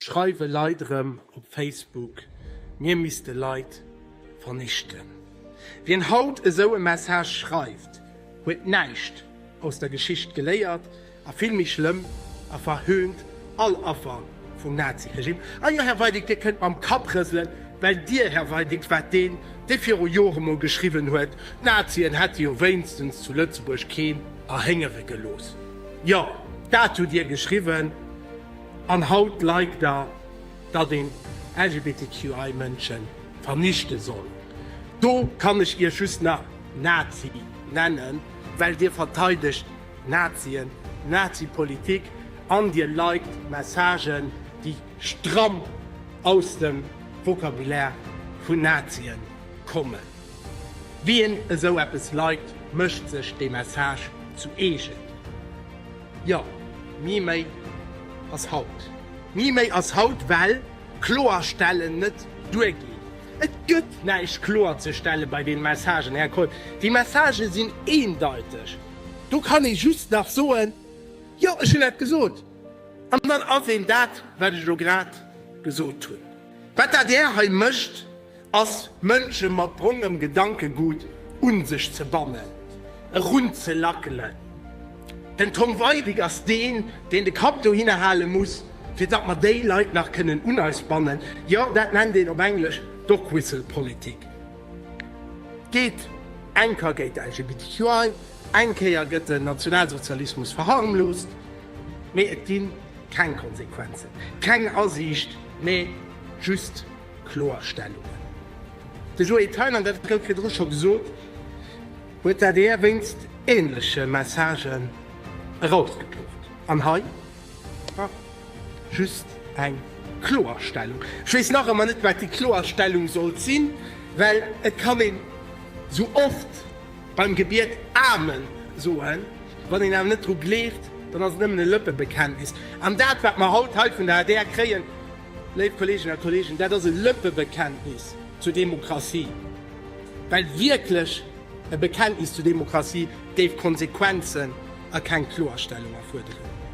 Schreiwe Leit erëm op Facebook, mir misste Leit vernichten. Wien haut esou e Message schreift, huet näischt aus der Geschicht geléiert a vill méi schlëmm, a verhöhnt all Affer vum Nazi-Regime. Ah jo, Här Weidig, Dir kënnt mam Kapp rëselen, well Dir, Här Weidig, waart deen, dee viru Jore emol geschriwwen huet, d'Nazien hätte jo wéinstens zu Lëtzebuerg keen erhéngere gelooss. Jo, dat hutt Dir geschriwwen. An haut like der, datt een LGBTQI Mënschen vernichte soll. Do kann ech iech just nach Nazi nennen, well dir verteidegt Nazien, Nazi Politik an dir likt Messagen déi stramm aus dem Vocabulaire vun Nazien kommen. Wien esou eppes likt, mécht sech dee Message zu eegen. Jo, ni méi ass haut. Ni méi ass haut, well Kloerstellen net duerginn. Et gëtt näischt kloerzestellen bei deene Messagen, Här Kohl. Déi Messagë sinn eendeiteg. Do kann ee just nach soen, Jo, ech hunn dat gesot. An dann ass een dat, wat ech elo grad gesot hunn. Wat dat Där hei mécht, ass Mënsche mat brongem Gedankegut un sech ze bannen, erunzelackelen. Den Tom Weidig ass deen, deen de Kapp dohinner hale muss, fir datt mer déi Leit nach kënnen un eis bannen. Jo, dat nennt een op Englesch Dogwhistle-Politik. Geet eng Ka géint de LGBTQI, eng Kéier gëtt den Nationalsozialismus verharmloost, mee et gi keng Konsequenzen, keng Asiicht, mee just Kloerstellungen. De Joé Thein, an dat gouf virdru scho gesot, huet d'ADR wéinst änleche Messagen erausgekloft. An hei just eng Kloerstellung. Ech weess nach ëmmer net, wat déi Kloerstellung sollt sinn, well et kann een esou oft beim Gebiet Amen soen, wann een awer net dru gleeft, dann ass et nëmmen e Lëppebekenntnis. An dat, wat mer haut hei vun der adr kréien, Léif Kolleeginnen a Kolleegen, dat ass e Lëppebekenntnis zur Demokratie, well wierklech e Bekenntnis zur Demokratie géif Konsequenzen a keng Kloerstellung erfuerderen.